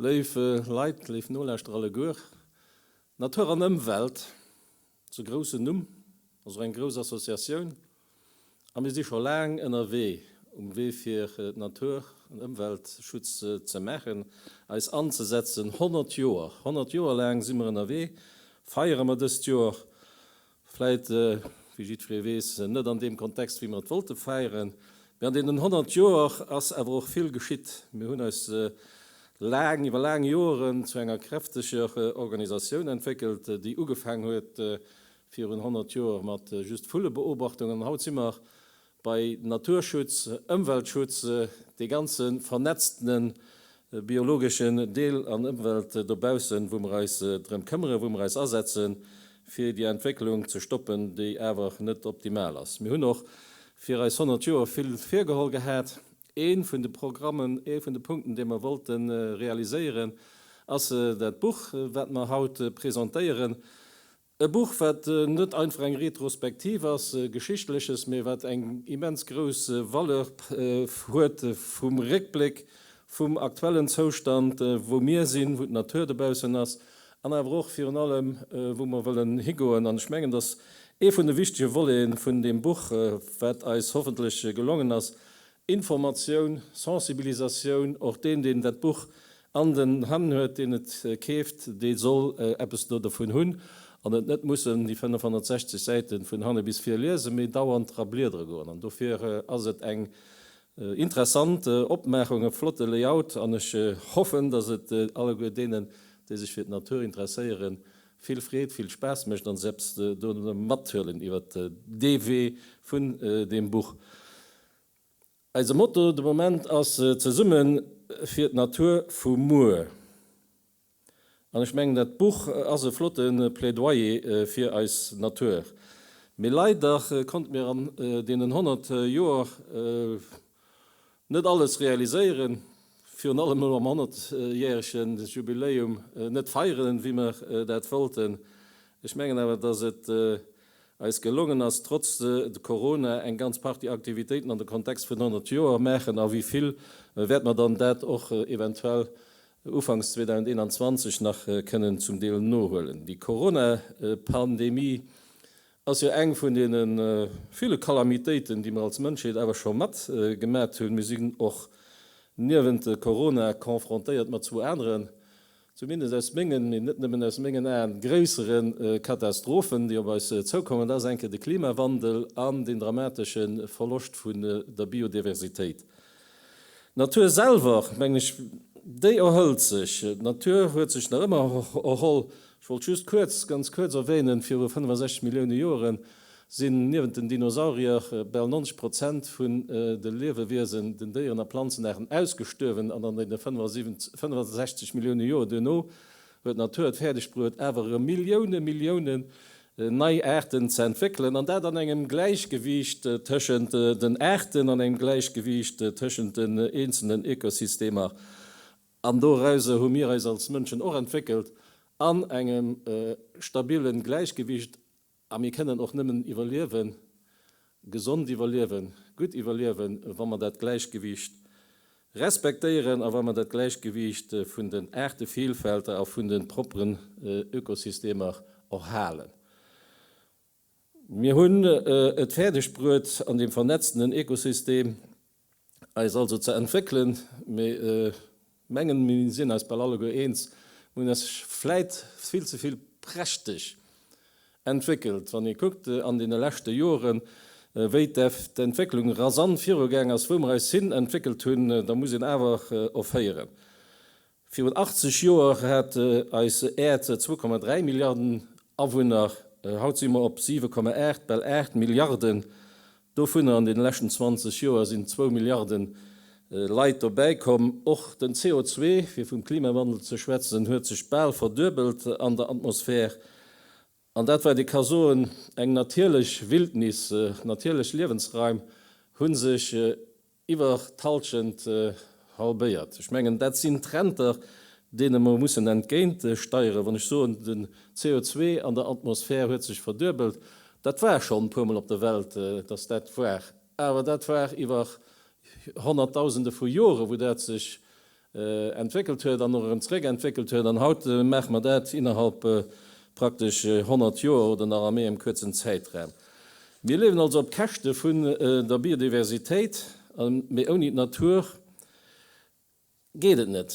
Léif Leit, léif Nolauschterer alleguer, Natur an Ëmwelt, Zu groussen Numm, ass och eng grouss Associatioun a mir si scho laang ënnerwee um Wee fir Natur an Ëmweltschutz ze maachen, eis anzesetzen. 100 Joer, 100 Joer laang si mer ënnerwee, feiere mer dëst Joer vläit, wéi jiddweree weess, net an deem Kontext wéi mer et wollte feieren, mee an deenen 100 Joer ass awer och vill geschitt. Mir hunn eis laang, iwwer laang Joeren zu enger kräfteger Organisatioun entwéckelt, déi ugefaang huet virun 100 Joer mat just Vullebeobachtungen an haut si mer bei Naturschutz, Ëmweltschutz, dee ganze vernetztene biologeschen Deel an Ëmwelt dobaussen, wou mer eis drëm këmmere, wou mer eis asetze fir déi Entwécklung ze stoppen, déi awer net optimal ass. Mir hunn och fir eis 100 Joer vill virgeholl gehat Ee vun de Programmen, ee vun de Punkten, dee mer wollte realiséieren, ass dat Buch, wat mer haut presentéieren. E Buch, wat net einfach eng Retrospektiv ass, Geschichtleches, mee wat eng immens grouss Valeur huet vum Réckbléck, vum aktuellen Zoustand, wou mir sinn, wou d'Natur dobaussen ass an awer och virun allem, wou mer wëllen higoen. An ech mengen, dass ee vun de wichtege Voleten vun deem Buch, wat eis hoffentlech gelongen ass, Informatioun, Sensibilisatioun, och deen, deen dat Buch an den Hänn huet, deen et keeft, dee soll eppes do dovun hunn an et net mussen déi 560 Säite vun hanne bis vir liesen, mee dauernd dra bliedere goen. An dofir ass et eng interessant Opmaachung, e flotte Layout an ech hoffen, datt et alleguer deenen, déi sech fir d'Natur interesséieren, vill Freed, vill Spaass mécht an eppes dovun mathuelen iwwer dee Wee vun deem Buch. Eise Motto de Moment ass Zesumme fir d'Natur vu muer an ech mengen dat Buch ass e flotte Plädoyer fir eis Natur. Mee leider konnte mir an deenen 100 Joer Net alles realiséieren, virun allem elo am Honnertjährege Jubiläum net feieren, wéi mer dat wollten. Ech mengen awer, dass et eis gelongen ass, trotz Corona eng ganz Partie Aktivitéiten an de Kontext vun 100 Joer maachen. A wéi vill wäerte mer dann dat och eventuell ufanks 2021 nach kënnen zum Deel nohuelen? Déi Coronapandemie ass jo eng vun deene ville Kalamitéiten, déi mer als Mënschheet awer scho mat gemat hunn. Mir sinn och niewent Corona confrontéiert mat zwou aneren, zumindest aus mengen, mee net nëmmen aus mengen Aen, gréissere Katastrophen, déi op eis zoukommen. Dat ass eng Kéier de Klimawandel an deen dramatesche Verloscht vun der Biodiversitéit. D'Natur selwer, mengen ech, déi erhëlt sech. D'Natur huet sech nach ëmmer erholl. Ech wollt just kuerz, ganz kuerz erwänen, viru 65 Millioune Joere sinn niewent den Dinosaurier bal 90 Prozent vun de Liewewiesen, den Déieren a Planzenaarten, ausgestuerwen an an deene 65 Millioune Joer duerno Well d'Natur et fäerdeg bruet, awer erëm Millioune Milliounen nei Aarten ze entwéckelen, an dat an engem Gläichgewiicht tëschent den Aarten, an engem Gläichgewiicht tëschent den eenzelnen Ökosystemer, an dorauser hu mir eis als Mënschen och entwéckelt, an engem stabile Gläichgewiicht. A mir kënnen och nëmmen iwwerliewen, gesond iwwerliewen, gutt iwwerliewen, wa mer dat Gläichgewiicht respektéieren a wa mer dat Gläichgewiicht vun den Aartevielfälter a vun de propperen Ökosystemer och halen. Mir hunn et fäerdegbruet an deem vernetztenen Ökosystem, eis also ze entwéckelen, mee mengen mir sinn eis bal alleguer eens, mir hunn eis vläit vill ze vill prächteg entwéckelt, wann ee kuckt an deene leschte Joren, wéi d'Entwécklung rasant virugaang ass, wou mir eis hin entwéckelt hunn, da muss een awer offéieren, Virun 80 Joer hat eis Äerd 2,3 Milliarden Awunner, haut si mer op 7,8, bal 8 Milliarden. Dovunner an deene leschten 20 Joer sinn zwou Milliarde Leit dobäi komm. Och den CO2, fir vum Klimawandel ze schwätzen, huet sech bal verduebelt an der Atmosphär. An dat wat ee ka soen, eng natierlech Wildnis, natierlech Liewensraim hu sech iwwer d'Hallschent halbéiert. Ech mengen, dat sinn Trender, deene mer mussen entgéint steieren. Wann ech soen, den CO2 an der Atmosphär huet sech verduebelt, dat war schonn e puermol op der Welt, datt dat war, awer dat war iwwer Honnertdausende vu Jore wou dat sech entwéckelt huet an och erëm zeréck entwéckelt huet an haut maache mer dat innerhalb praktesch 100 Joer oder nach a méi engem kuerzen Zäitraum. Mir liewen also op Käschte vun der Biodiversitéit, mee ouni d'Natur geet et net.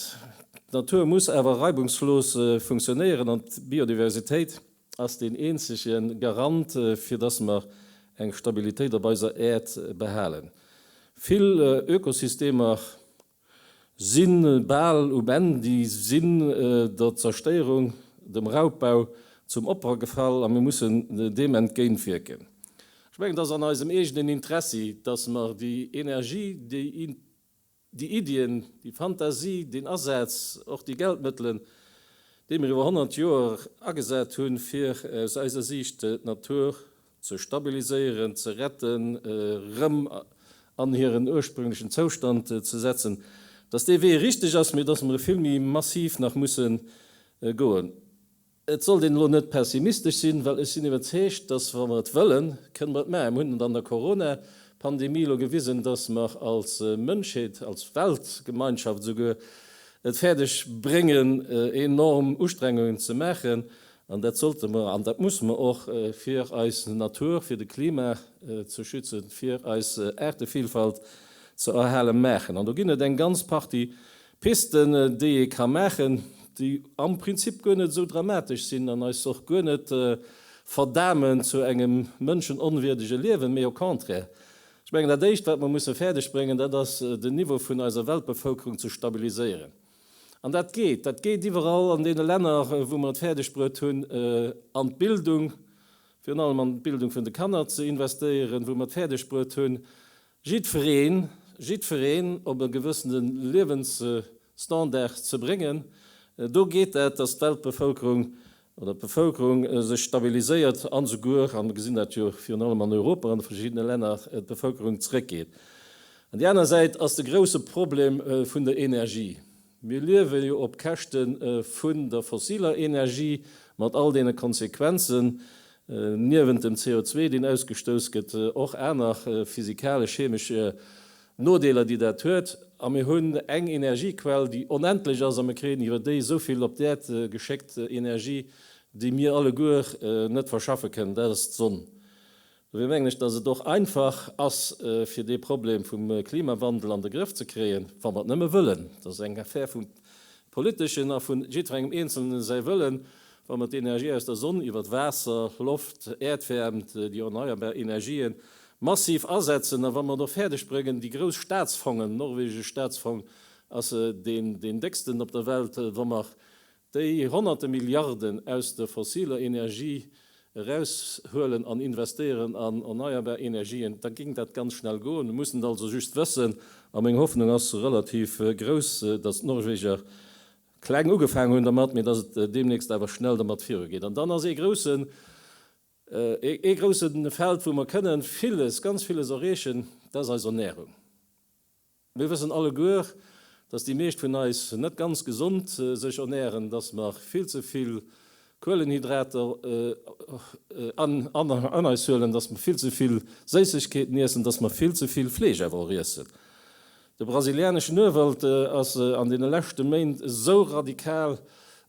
D'Natur muss awer reibungslos funktionéieren an d'Biodiversitéit ass deen eenzege Garant, fir dass mer eng Stabilitéit op eiser Äerd behalen. Vill Ökosystemer Sinn bal um Enn. Déi sinn der Zerstéierung, dem Raubbau zum Opfer gefall a mir mussen deem entgéint wierken. Ech mengen, et ass an eisem eegenen Interessi, datt mer déi Energie, déi Iddien, déi Fantasie, deen Asaz, och déi Geldmëttelen, déi mir iwwer 100 Joer agesat hunn, fir aus eiser Siicht d'Natur ze stabiliséieren, ze retten, erëm an hiren ursprünglechen Zoustand ze setzen, dass dee Wee richteg ass, mee dass mer e vill méi massiv nach musse goen. Et sollt een elo net pessimistesch sinn, well ech sinn iwwerzeegt, dass, wa mer et wëllen, kënne mer et maachen. Mer hunn et an der Corona-Pandemie elo gewisen, dass mer als Mënschheet, als Weltgemeinschaft esouguer, et fäerdeg bréngen, enorm Ustrengungen ze maachen, An dat sollte mer an dat musse mer och, fir eis Natur, fir de Klima ze schützen, fir eis Aartevillfalt ze erhalen, maachen. An do ginn et eng ganz Partie Pisten, déi ee ka maachen, déi am Prinzip guer net esou dramatesch sinn an eis och guer net verdamen zu engem mënschenonwierdege Liewen, mee au contraire. Ech mengen, dat Éischt, wat mer musse fäerdegbréngen, dat ass, den Niveau vun eiser Weltbevëlkerung ze stabiliséieren. An dat geet. Dat geet iwwerall an deene Länner, wou mer et fäerdegbruet hunn, an d'Bildung, virun allem an d'Bildung vun de Kanner ze investéieren, wou mer et fäerdegbruet hunn, jiddwereen, jiddwereen op e gewëssene Liewensstandard ze bréngen. Do geet dat, dass d'Weltbevëlkerung oder d'Bevëlkerung sech stabiliséiert an esouguer, a mir gesinn dat jo virun allem an Europa an de verschiddene Länner, d'Bevëlkerung zeréckgeet. An déi aner Säit ass de grouse Problem vun der Energie. Mir liewe jo op Käschte vun der fossiler Energie mat all deene Konsequenzen, niewent dem CO2, deen ausgestouss gëtt, och aner physikalesch-chemesch Nodeeler déi dat huet, a mir hunn eng Energiequell déi onendlech ass a mir kréien iwwer déi esou vill op d'Äerd geschéckt, Energie déi mir alleguer net verschaffe kënnen, dat ass d'Sonn. Dofir mengen ech, datt et och einfach ass fir dee Problem vum Klimawandel an de Grëff ze kréien, wa mer et nëmme wëllen. Dat ass eng Affär vum Politeschen a vu jiddwerengem Eenzelne säi Wëllen, wa mer d'Energie aus der Sonn iwwert Waasser, Loft, Äerdwäermt, déi erneierbar Energien Massiv asetzen, a wa mer et och fäerdeg bréngen, déi grouss Staatsfongen, norwegesch Staatsfong ass deen décksten op der Welt, wa mer déi Honnerte Milliarden aus der fossiler Energie eraushuelen an investéieren an erneierbar Energien, da géing dat ganz schnell goen. Mir mussen et also just wëssen. A meng Hoffnung ass relativ grouss, datt d'Norweger kleng ugefaangen hunn dermat, mee datt et deemnächst awer schnell dermat virugeet. An dann ass ee groussen Ee grousse Feld, wou mer kënne villes, ganz villes erreechen, dat ass eis Ernährung. Mir wëssen alleguer, dass déi meescht vun eis net ganz gesond sech ernähren, dass mer vill ze vill Kuelenhydrater an eis huelen, dass mer vill ze vill Séissegkeeten iessen, dass mer vill ze vill Fleesch awer och iessen. De brasilianeschen Urwald ass an deene leschte Méint esou radikal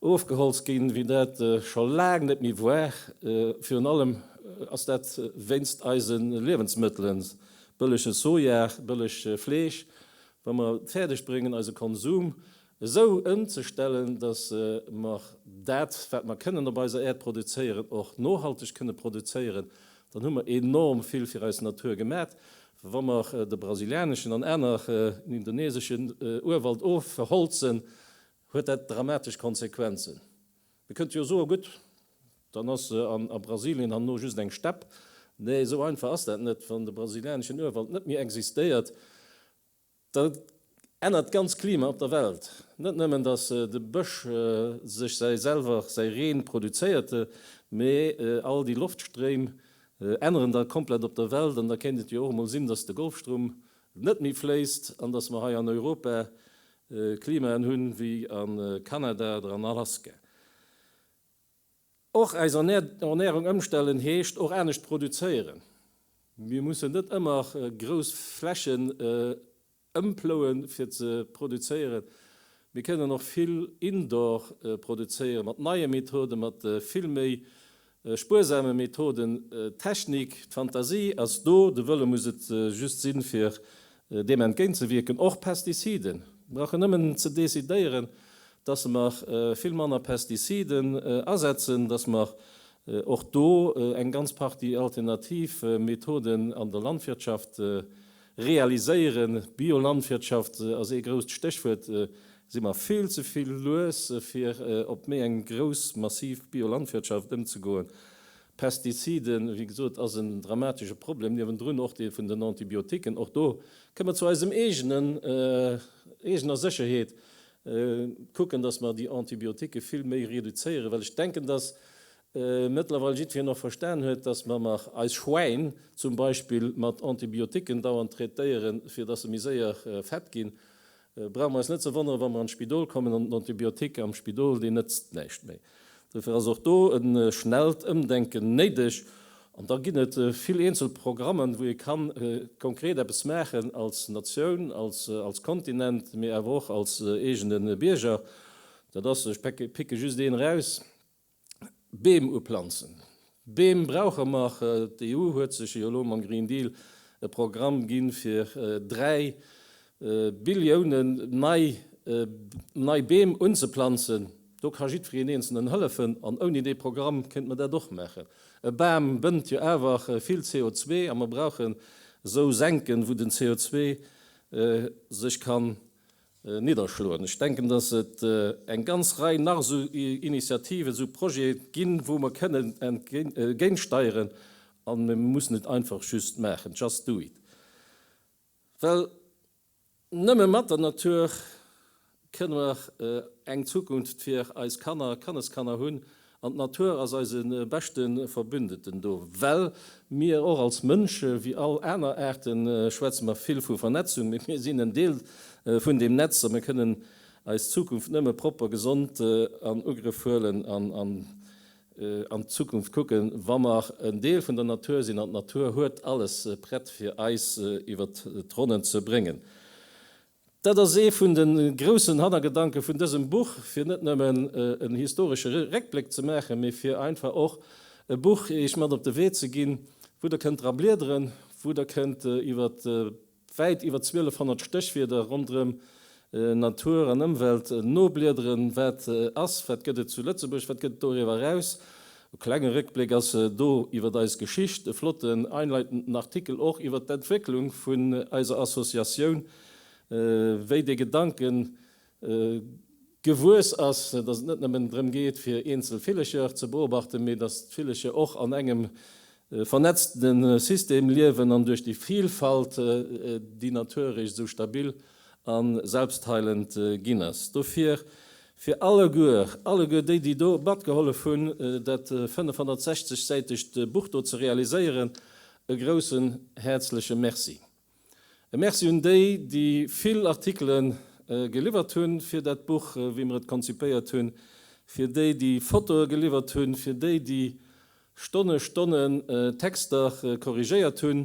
ofgeholzt ginn, wéi dat scho laang net méi war. Virun allem ass dat wéinst eise Liewensmëttelen, bëllege Soja, bëllegt Fleesch. Wa mer et fäerdeg bréngen, eise Konsum esou ëmzestellen, dass mer dat, wat mer kënnen op eiser Äerd produzéieren, och nohalteg kënne produzéieren, dann hu mer enorm vill fir eis Natur gemat. Wa mer de brasilianeschen an aner indoneseschen Urwald ofholzen, huet dat dramatesch Konsequenzen. Mir kënnte jo soen, gutt, dann ass a Brasilien herno just eng Stepp. Nee, esou einfach ass dat net. Wann de brasilianeschen Urwald net méi existéiert, Dat ännert d'ganz Klima op der Welt. Net nëmmen datt de Bësch sech säi selwer säi Reen produzéierte, mee all déi Loftstréim änneren da komplett op der Welt. An da kéint et jo och emol sinn, datt de Golfstroum net méi fléisst an datt mer hei an Europa Klimaen hunn wéi a Kanada oder an Alaska. Och eis Ernärung ëmstellen heescht och anescht produzéieren. Mir mussen net ëmmer grouss Flächen ëmplouen, fir ze produzéieren. Mir kënnen och vill indoor produzéieren, mat neie Methoden, mat vill méi spuersame Methoden. D'Technik, d'Fantasie ass do, de Wëlle muss et just sinn, fir Deem entgéintzewierken, och Pestiziden, brauchen nëmmen ze decidéieren, dass mer vill manner Pestiziden asetzen, dass mer och do eng ganz Partie alternativ Methoden an der Landwirtschaft realiséieren. Biolandwirtschaft ass ee grousst Stéchwuert. Si mer vill ze vill lues, fir op méi eng grouss, massiv Biolandwirtschaft ëmzegoen. Pestiziden, wéi gesot, ass en dramatesche Problem, niewendrun och dee vun den Antibiotiquen. Och do kënne mer zu eisem eegenen, eegener Sécherheet kucken, dass mer déi Antibiotiquen vill méi reduzéieren, well ech denken, dass mëttlerweil jiddwereen och verstan huet, dass mer nach eis Schwäin zum Beispill mat Antibiotiquen dauernd traitéieren, fir dass se méi séier fett ginn. brauche mer eis net ze wonneren, wa mer an d'Spidol kommen an den Antibiotique am Spidol, deen nëtzt näischt méi. Dofir ass och do e schnellt Ëmdenken néideg. An da ginn et vill eenzel Programmen, wou ee ka konkret eppes maachen als Natioun, als Kontinent, mee awer och als eegene Bierger. Dat ass, ech picke just een eraus, Beem uplanzen. Beem brauche mer. D'EU huet sech jo elo mam Green Deal e Programm ginn, fir 3 Billioune nei Beem unzeplanzen. Do ka jiddwereen Eenzelen hëllefen. An ouni dee Programm kéinte mer dat och maachen. E Bam bënnt jo awer vill CO2 a mer brauchen esou Senken, wou den CO2 sech kann nidderschloen. Ech denken, dass et eng ganz Rei nach esou Initiativen, esou Projete ginn, wou mer kënnen entgéintsteieren, a mir müssen et einfach just maachen, just do it. Well nëmme mat der Natur kënne mer eng Zukunft fir eis Kanner a Kanneskanner hunn, An d'Natur ass eise beschte Verbündeten do, well mir och als Mënsche wéi all aner Aarte schwätze mer vill vu Vernetzung, mee mir sinn en Deel vun deem Netz a mir kënnen eis Zukunft nëmme propper, gesond an Ugrëff huelen an an d'Zukunft kucken, wa mer en Deel vun der Natur sinn. An d'Natur huet alles prett, fir eis iwwert d'Ronnen ze bréngen. Dat ass ee vun de groussen Hannergedanke vun dësem Buch, fir net nëmmen en historesche Réckbléck ze maachen, mee fir einfach och e Buch iech mat op de Wee ze ginn, wou der kënnt dra bliederen, wou der kënnt iwwer wäit iwwer 1200 Stéchwierder ronderëm Natur an Ëmwelt nobliederen, wat ass, wat gëtt et zu Lëtzebuerg, wat gëtt et doriwwer eraus, E klenge Réckbléck ass do iwwer eis Geschicht, e flotten einleitenden Artikel och iwwer d'Entwécklung vun eiser Associatioun, wéi dee Gedanke gewuess ass, dass et net nëmmen drëm geet fir eenzel Villecher ze beobachten, mee dass d'Villecher och an engem E vernetzte System liewen an duerch déi Vilfalt déi natiererech esou stabil a selbstheilend ginn ass. Dofir fir alleguer, alleguer déi déi do matgehollef hunn dat 560 säitegt Buch do ze realiséieren, e groussen häerzleche Merci. E Merci un déi, déi vill Artikele geliwwert hunn fir dat Buch, wéi mer et konzipéiert hunn, fir déi, déi Fotoe geliwwert hunn, fir déi, déi Stonne Stonne Texter korrigéiert hunn.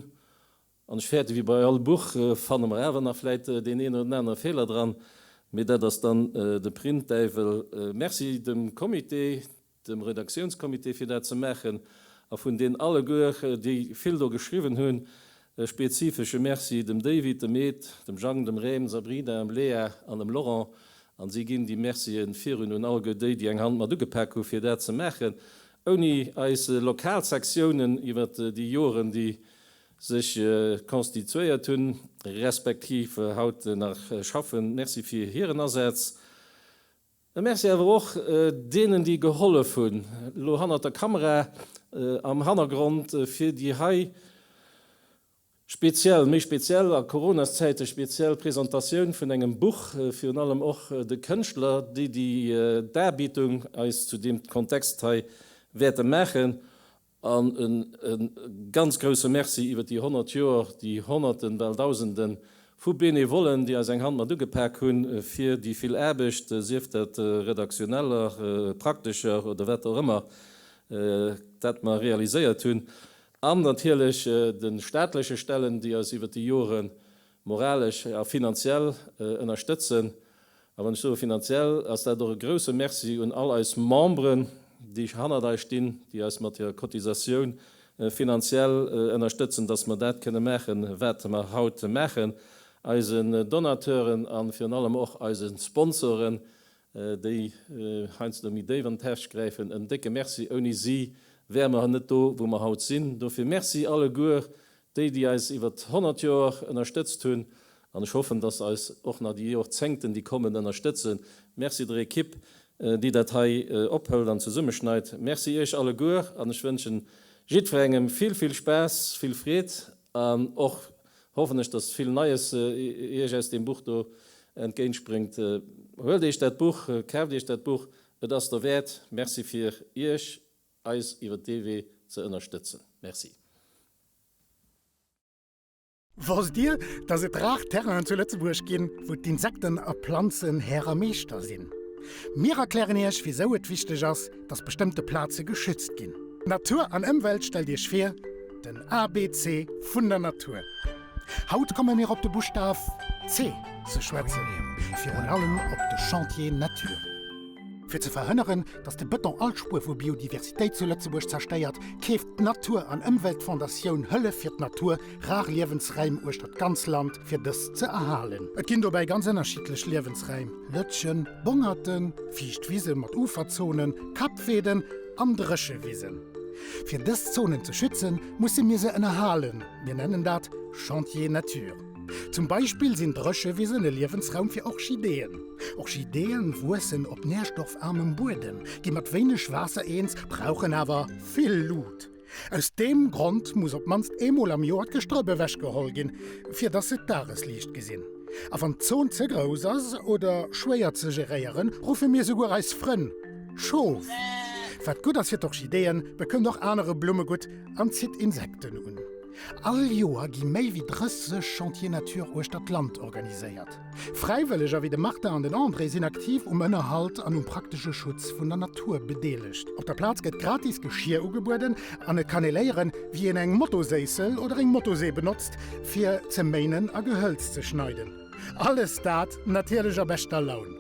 An ech fäerte, wéi bei all Buch fanne mer awer nach vläit deen een oder den anere Feeler dran, mee dat ass dann de Printdäiwel. Merci dem Comité. dem Redaktiounscomité fir dat ze maachen a vun deen alleguer déi vill do geschriwwen hunn e spezifesche Merci, dem David, dem Ed, dem Jang, dem Rem, Sabrina, em Léa an em Laurent an si ginn déi Mercië virun un alleguer déi déi eng Hand mat ugepak hu fir dat ze maachen. Ouni eis lokal Sektiounen iwwert déi Joren déi sech constituéiert hunn, respektiv haut nach schaffen, Merci fir hiren Asaz. E Merci awer och deenen, déi gehollef hunn, elo hannert der Kamera, am Hannergrond, fir déi hei speziell, méi speziell a Coronaszäite speziell Presentatioun vun engem Buch, virun allem och de Kënschtler, déi déi Darbietung eis zu deem Kontext hei wäerte maachen. An e ganz grousse Merci iwwert déi 100 Joer, déi Honnerten, bal Dausenden vu Benevollen, déi eis eng Hand mat ugepak hunn, fir déi vill Aarbecht, sief dat redaktioneller, praktescher oder wat och ëmmer, dat mer realiséiert hunn. An natierlech de staatleche Stellen, déi eis iwwert déi Joren moralesch a finanziell ënnerstëtzen. A wann ech soe finanziell, ass dat och e grouse Merci un all eis Memberen, déi hannert eis stinn, déi eis mat hirer Cotisatioun finanziell ënnerstëtzen, dass mer dat kënne maachen, wat mer haut maachen, eisen Donateuren a virun allem och eise Sponsoren, déi heiansdo méi déif an d'Täsch gräifen, en décke Merci, ouni si wäre mer net do wou mer haut sinn. Dofir Merci alleguer déi, déi eis iwwert 100 Joer ënnerstëtzt hunn an ech hoffen, dass eis och nach déi Jorzéngten déi kommen ënnerstëtzen. Merci der Ekipp déi dat hei ophëlt an zesummeschneit. Merci iech alleguer an ech wënschen jiddwerengem vill vill Spaass, vill Freed an och Hoffen ech dass vill Neies iech aus deem Buch do entgéintspréngt. Huelt iech dat Buch, kaaft iech dat Buch, et ass der wäert. Merci fir iech eis iwwert dee Wee ze ënnerstëtzen. Merci. Wosst Dir, dass et rar Terrainen zu Lëtzebuerg ginn, wou d'Insekten a Planzen Här a Meeschter sinn? Mir erklären Iech, wisou et wichteg ass, dass bestëmmte Plaze geschützt ginn. Natur an Ëmwelt Stellt Iech vir, den ABC vun der Natur. Haut komme mir op de Buschtaf C ze schwätzen, virun allem op de Chantier Natur. Fir ze verhënneren, dass de Bëton all Spuer vu Biodiversitéit zu Lëtzebuerg zerstéiert, keeft d'Natur an Ëmweltfondatioun Hëllef fir d'Natur, Rar Liewensräim uechter d'ganz Land fir dës ze erhalen. Et ginn dobäi ganz ënnerschiddlech Liewensräim, Lëtschen, Bongerten, fiicht Wisen mat Uferzonen, Kappweeden an Dréchewisen. Fir dës Zonen ze schützen, musse mir se ënnerhalen, mir nennen dat Chantier nature. Zum Beispill sinn Dréchewisen e Liewensraum fir Orchideeën. Orchideeë wuessen op nährstoffarmem Buedem, gi mat wéineg Waasser eens, brauchen awer vill Lut. Aus deem Grond muss op d'mannst eemol am Joer d'Gestrëpp ewechgeholl ginn, fir dass se d'Dagesliicht gesinn. A wann d'Zon ze grouss ass oder schwéier ze geréieren, ruffe mir souguer eis Frënn Schof. Wat gutt ass fir d'Orchideeën, bekënnt och anere Blumme gutt an zitt Insekten un. All Joer gi méi wéi 30 Chantiers Nature uechter d'Land organiséiert. Fräiwëlleger wéi de Martin an den André sinn aktiv um Ënnerhalt an um praktesche Schutz vun der Natur bedeelegt. Op der Plaz gëtt gratis Geschir ugebueden an et kann ee léieren, wéi een eng Motoséissel oder eng Motosee benotzt, fir ze méinen a Gehëlz ze schneiden. Alles dat natierlech a beschter Laun.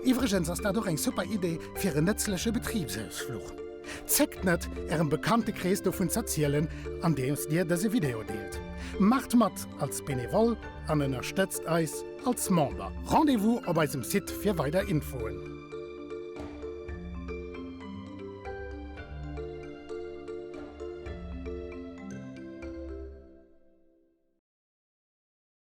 Iwwregens ass dat och eng super Idee fir en nëtzleche Betribsausfluch. Zéckt net, Ärem Bekanntekrees dovun z'erzielen, andeems Dir dëse Video deelt. Maacht mat als Benevol an ënnerstëtzt eis als Member. Rendez-vous op eisem Site fir weider Infoen.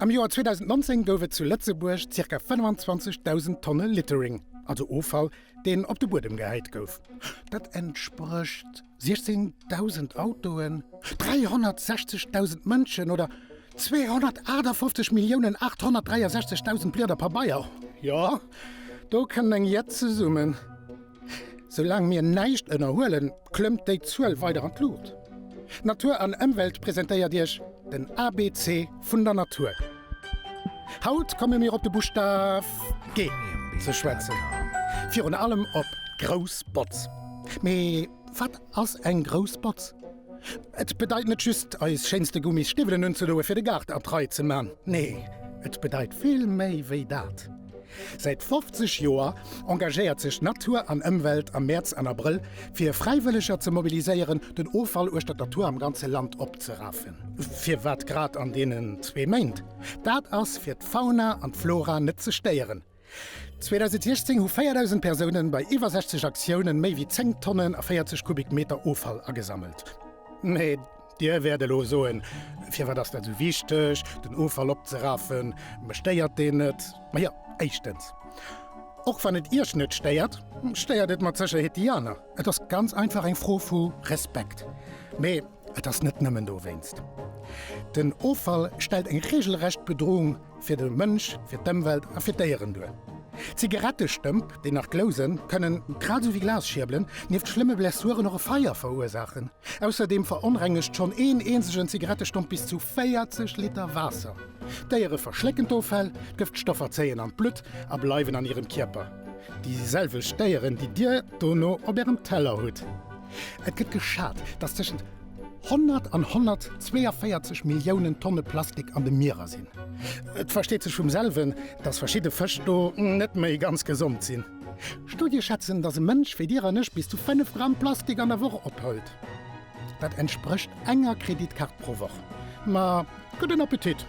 Am Joer 2019 gouf et zu Lëtzebuerg zirka 25.000 Tonne Littering, also Offall, deen op de Buedem gehäit gouf. Dat entsprécht. 16.000 Autoen, 360.000 Mënschen oder 258.863.000 Blieder Pabeier? Jo, do kënnt eng Jett zesummen. Soulaang mir näischt ënnerhuelen, klëmmt déi Zuel weider an d'Luucht. Natur an Ëmwelt presentéiert Iech den ABC vun der Natur. Haut komme mir op de Buschtaf G ze schwätzen, virun allem op grouss Botz. Mee wat ass eng grouss Botz? Et bedeit net just, eis schéinste Gummis Stiwwelen unzedoe fir de Gaart a d'Rei ze man. Nee, et bedeit vill méi wéi dat. Säit 50 Joer engagéiert sech Natur an Ëmwelt am Mäerz an Abrëll fir Fräiwëlleger ze mobiliséieren, den Offall uechtert der Tour am ganze Land opzerafen. Firwat grad an deenen zwee Méint? Dat ass fir d'Fauna an d'Flora net ze stéieren. 2016 hu 4.000 Persounen bei iwwer 60 Aktiounen méi wéi 10 Tonnen a 40 Kubikmeter Offall agesammelt. Dir wäert elo soen, Firwat ass dat esou wichteg, den Offall opzeraffen? Mech stéiert deen net. Majo, éischtens, och wann et Iech net stéiert, stéiert et mat Sécherheet déi aner. Et ass ganz einfach eng Fro vu Respekt. Mee et ass net nëmmen dowéinst. Den Offall stellt eng reegelrecht Bedroung Fir de Mënsch, fir d'Ëmwelt a fir d'Déieren duer. Zigarettestëmp, déi nach glousen, kënnen, grad esou wéi Glasschierbelen, nieft schlëmme Blessuren och e Feier verursaachen. Ausserdeem veronrengegt schonn een eenzegen Zigarettestomp bis zu 40 Liter Waasser. D'Déiere verschlécken d'Offäll, d'Gëftstoffer zéien an d'Blutt a bleiwen an hirem Kierper, déi selwecht Déieren, déi Dir dono op Ärem Teller hutt. Et gëtt geschat, datt tëschent 100 an 142 Milliounen Tonne Plastik an de Mierer sinn. Et versteet sech vum selwen, datt verschidde Fësch do net méi ganz gesond sinn. Studie schätzen, datt e Mënsch wéi Dir an ech bis zu 5 Gramm Plastik an der Woch ophëlt. Dat entsprécht enger Kreditkaart pro Woch. Ma Gudden Appetit!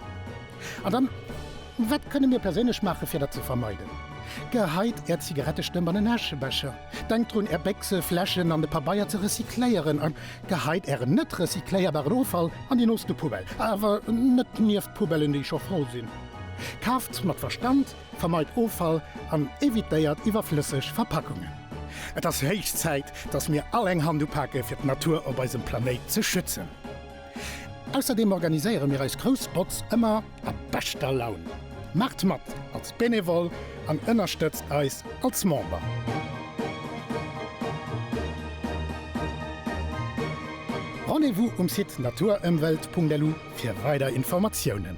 An dann, wat kënne mir perséinlech maachen, fir dat ze vermeiden? Geheit Är Zigarettestëmp an en Äschebecher. Denkt drun, Är Béchse, Fläschen an de Pabeier ze recycléieren. A geheit Ären net recycléierbaren Offall an déi nooste Poubelle, awer net nieft d'Poubellen, déi scho voll sinn. Kaaft mat Verstand, vermeit Offall an evitéiert iwwerflësseg Verpackungen. Et ass héich Zäit, dass mir all eng Hand upake fir d'Natur op eisem Planéit ze schützen. Ausserdeem organiséiere mir eis grouss Botz ëmmer a beschter Laun. Maacht mat als Benevole an ënnerstëtzt eis als Member! Rendez-vous um Site naturëmwelt.lu fir weider Informatiounen.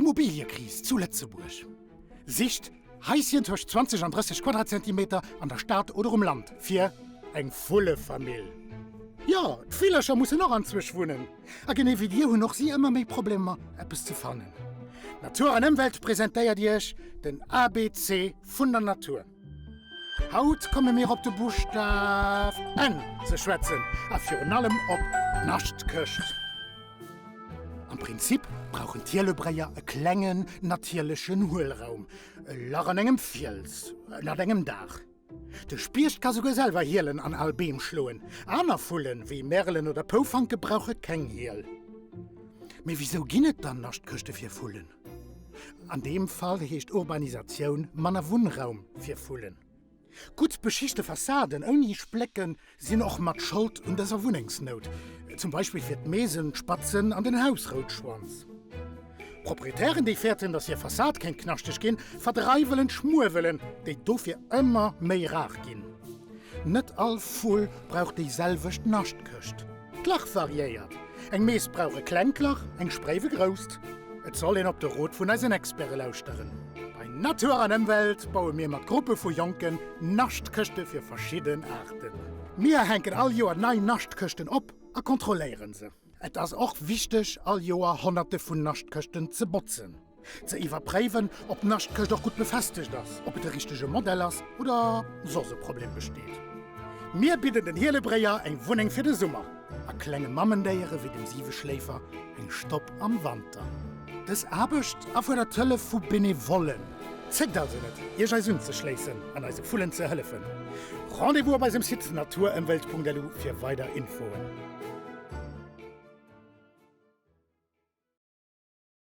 Immobiliëkris zu Lëtzebuerg, Sicht Haischen tëscht 20 an 30 Quadratzentimeter an der Stad oder um Land fir eng Vullefamill. Jo, d'Villercher mussen och anzwësch wunnen, a genee wéi dir hunn och si ëmmer méi Problemer, eppes ze fannen. Natur an Ëmwelt presentéiert Iech den ABC vun der Natur. Haut komme mir op de Buschtaf n ze schwätzen a virun allem op d'Naschtkecht. Am Prinzip brauchen d'Hielebréier e klengen natierlechen Huelraum, e Lach an engem Fiels, ënnert engem Daach. De Spiecht ka souguer selwer hielen an al Beem schloen. Aner Vullen, wéi Merelen oder Poufanke brauche keng Hiel. Mee wisou ginn et dann Naschtkechte fir Vullen? An deem Fall heescht Urbanisatioun manner Wunnraum fir Vullen. Gutt beschichte Fassaden ouni Splécken sinn och mat Schold un dëser Wunnengsnout, zum Beispill fir d'Meesenspatzen an den Hausroutschwanz. Proprietären, déi fäerten, datt hir Fassad kéint knaschteg ginn, verdreiwelen d'Schmuewelen, déi dofir ëmmer méi rar ginn. Net all Vull brauch déi selwecht Naschtkëscht. D'Lach variéiert, eng Mees brauch e klengt Lach, eng Spréif e grousst. Et soll een op de Rot vun eisen Experte lauschteren. Bei Natur an Ëmwelt baue mir mat Gruppe vu Jonken Naschtkëschte fir verschidden Aarten. Mir hänken all Joer nei Naschtkëschten op a kontrolléieren se. Et ass och wichteg all Joer honnerte vun Naschtkëschten ze botzen. Ze iwwerpréiwen, ob d'Naschtkëscht och gutt befestegt ass, ob et de richtege Modell ass oder soss e Problem besteet. Mir bidden den Hielebréier eng Wunneng fir de Summer a klenge Mammendéiere wéi dem Siweschléifer eng Stopp am Wanter. Dës Aarbecht erfuerdert d'Hëllef vu Benevollen. Zéckt also net, Iech eis unzeschléissen an eise Vullen ze hëllefen. Rendez-vous op eisem Site naturëmwelt.lu fir weider Infoen.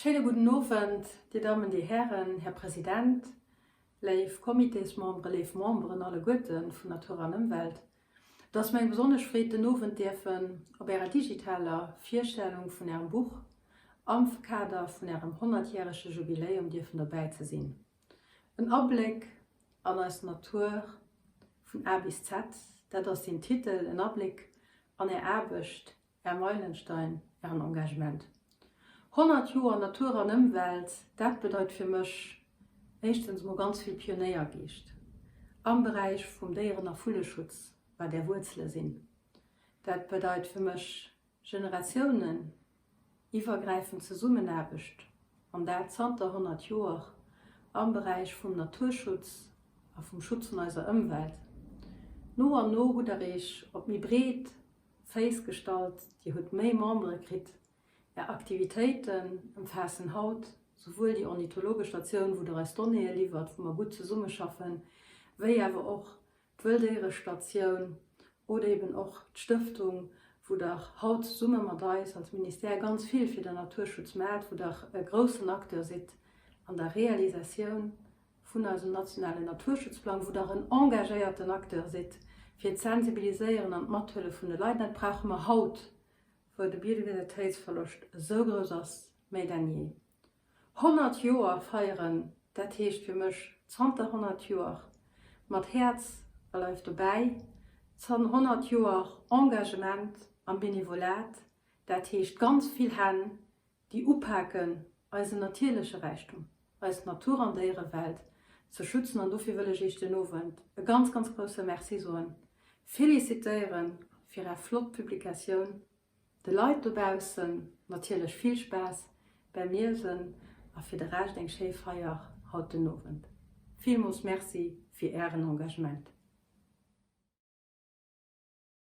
Schéine gudden Owend, Dir Dammen, Dir Hären, Här President, léif Comitésmembere, léif Memberen alleguerte vun Natur an Ëmwelt. Et ass mir eng besonnesch Freed, den Owend däerfen op Ärer digitaler Virstellung vun Ärem Buch am Kader vun Ärem honnertjärege Jubiläum dierfen dobäi ze sinn. En Abléck an eis Natur vun A bis Z, dat ass den Titel, en Abléck an Är Aarbecht, Här Meilenstein, Ären Engagement 100 Joer Natur an Ëmwelt, dat bedeit fir mech éischtens emol ganz vill Pionéiergeescht am Beräich vum Déieren a Vulleschutz, wat Är Wuerzele sinn. Dat bedeit fir mech Generatiounen iwwergräifend Zesummenaarbecht, an dat zanter 100 Joer, am Beräich vum Naturschutz a vum Schutz vun eiser Ëmwelt. No an no hutt Der Iech op méi breet Féiss gestallt, Dir hutt méi Membere kritt. Är Aktivitéiten ëmfaassen haut souwuel déi ornithologesch Statioun, wou Der eis Donnéeë liwwert, wou mer gutt zesummeschaffen, wéi awer och d'Wëlldéierestatioun oder eben och d'Stëftung, wou Der haut zesumme mat eis als Ministère ganz vill fir den Naturschutz maacht, wou Der e groussen Acteur sidd an der Realisatioun vun eisem nationalen Naturschutzplang, wou Der en engagéierten Acteur sidd fir d'Sensibiliséieren an d'Mathëllef vun de Leit. Dat brauche mer haut, wou de Biodiversitéitsverloscht esou grouss ass, méi denn jee. Honnert Joer feieren, dat heescht fir mech zanter honnert Joer mat Häerz a Leif dobäi, zan honnert Joer Engagement am Benevolat, dat heescht ganz vill Hänn, déi upaken eisen natierleche Räichtum, eis Natur an Déierewelt ze schützen an dofir wëll ech Iech den Owend e ganz, ganz grousse Merci soen, félicitéiere fir Är flott Publikatioun, de Leit dobaussen natierlech vill Spaass bäim Liesen a fir de Rescht eng schéi Feier haut den Owend. Villmools Merci fir Ären Engagement.